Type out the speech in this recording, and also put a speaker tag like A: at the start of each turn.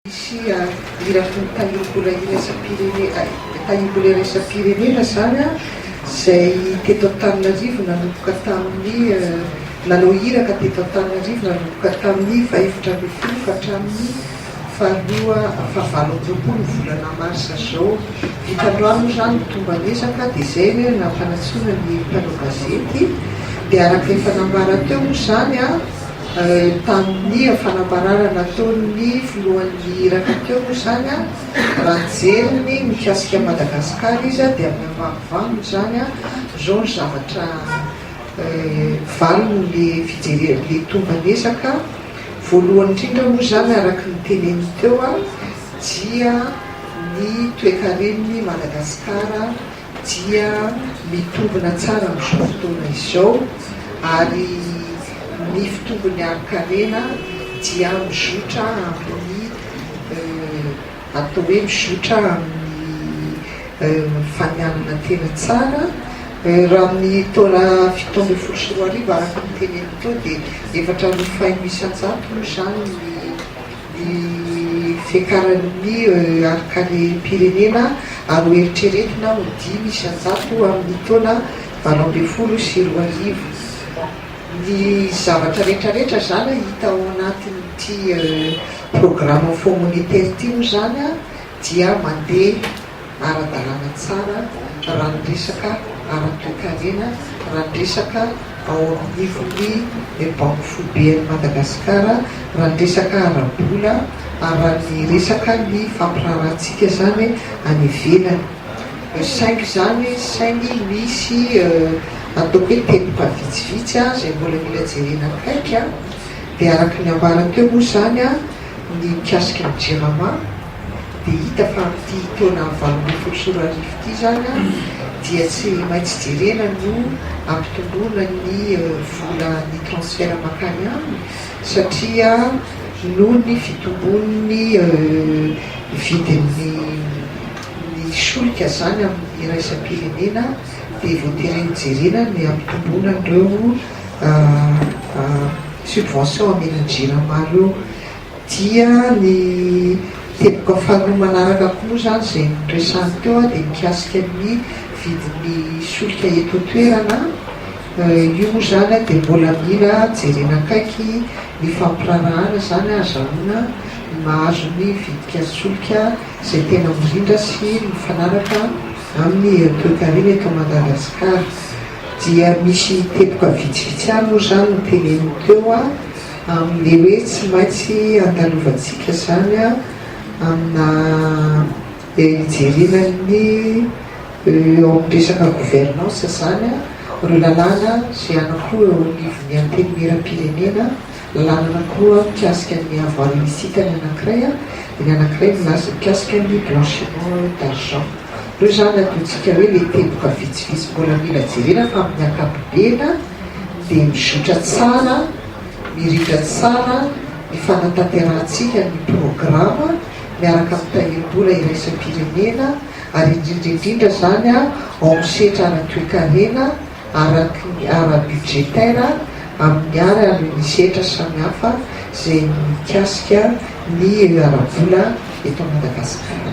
A: Misy irafin'ny Tanimbol iraisam-pirenena iraisam-pirenena izany an, izay teto Antananarivo nanomboka tamin'ny nanao iraka teto Antananarivo nanomboka tamin'ny fahefatra ambin'ny folo ka hatramin'ny faharoa fahavalo amby roapolo ny volana marsa izao. Vita androany moa izany ny tomban'ezaka dia izay ny hoe nampanantsoina ny mpanao gazety dia araka efa nambara teo moa izany an, Tamin'ny fanambarana nataon'ny filohan'ny Iraka teo moa izany, raha nijery ny mikasika an'i Madagasikara izy dia amin'ny ambaninvaniny izany, izao ny zavatra valin'ilay fijerena, ilay tomban'ezaka, voalohany indrindra moa izany araka ny teneniny teo dia ny toekaren'i Madagasikara, dia mitombina tsara amin'izao fotoana izao ary ny fitombon'ny harin-karena dia mizotra amin'ny atao hoe mizotra amin'ny fanianana tena tsara raha amin'ny taona fito ambin'ny folo sy roa arivo araka ny teneniny teo dia efatra amby faheno isan-jato moa izany ny ny fiakaran'ny EUR-karem-pirenena ary ho eritreretina ho dimy sy an-jato amin'ny taona valo ambin'ny folo sy roa arivo. Ny zavatra rehetra rehetra izany hita ao anatin'ity programme Fonds monétaire ity moa izany dia mandeha. ara-dalàna tsara raha ny resaka ara-toekarena, raha ny resaka ao anivon'ny Banky foiben'i Madagasikara, raha ny resaka ara-bola ary raha ny resaka ny fampiraharahantsika izany any ivelany. Saingy izany, saingy misy ataoko hoe teboka vitsivitsy izay mbola mila jerena akaiky dia araka ny ambara teo moa izany ny mikasika ny Jirama, Dia hita fa amin'ity taona valo ambin'ny folo sy roa arivo ity izany dia tsy maintsy jerena no hampitomboana ny vola ny transfert mankany aminy satria noho ny fitomboan'ny vidin'ny ny solika izany amin'ny iraisam-pirenena dia voatery hojerena ny hampitomboana an'ireo subvention amenan'ny jirama ireo. Dia ny teboka faharoa manaraka koa moa izany izay noresahany teo dia mikasika ny vidin'ny solika eto an-toerana. Io moa izany dia mbola mila jerena akaiky ny fampiraharahana izany hahazahoana ny mahazo ny vidin-kasolika izay tena mirindra sy mifanaraka amin'ny herim-toekarena eto Madagasikara. Dia misy teboka vitsivitsy ihany moa izany no teneniny teo. Amin'ilay hoe tsy maintsy andalovantsika izany amina hijerena ny eo amin'ny resaka gouvernance izany ireo lalàna izay anankiroa eo anivon'ny antenimieram-pirenena, lalàna anankiroa mikasika ny avoir illicite ny anankiray, dia ny anankiray milas- mikasika ny blanchiment d'argent. Ireo izany adihontsika hoe ilay teboka vitsivitsy mbola mila jerena fa amin'ny ankapobeny dia mizotra tsara. Mirindra tsara ny fanatanterahantsika ny programa miaraka amin'ny tahirim-bola iraisam-pirenena ary indrindra indrindra izany ao amin'ny sehtra ara-toekarena, araky ny ara-budgétaire, amin'ny ary ary ny sehtra samihafa izay mikasika ny ara-bola eto Madagasikara.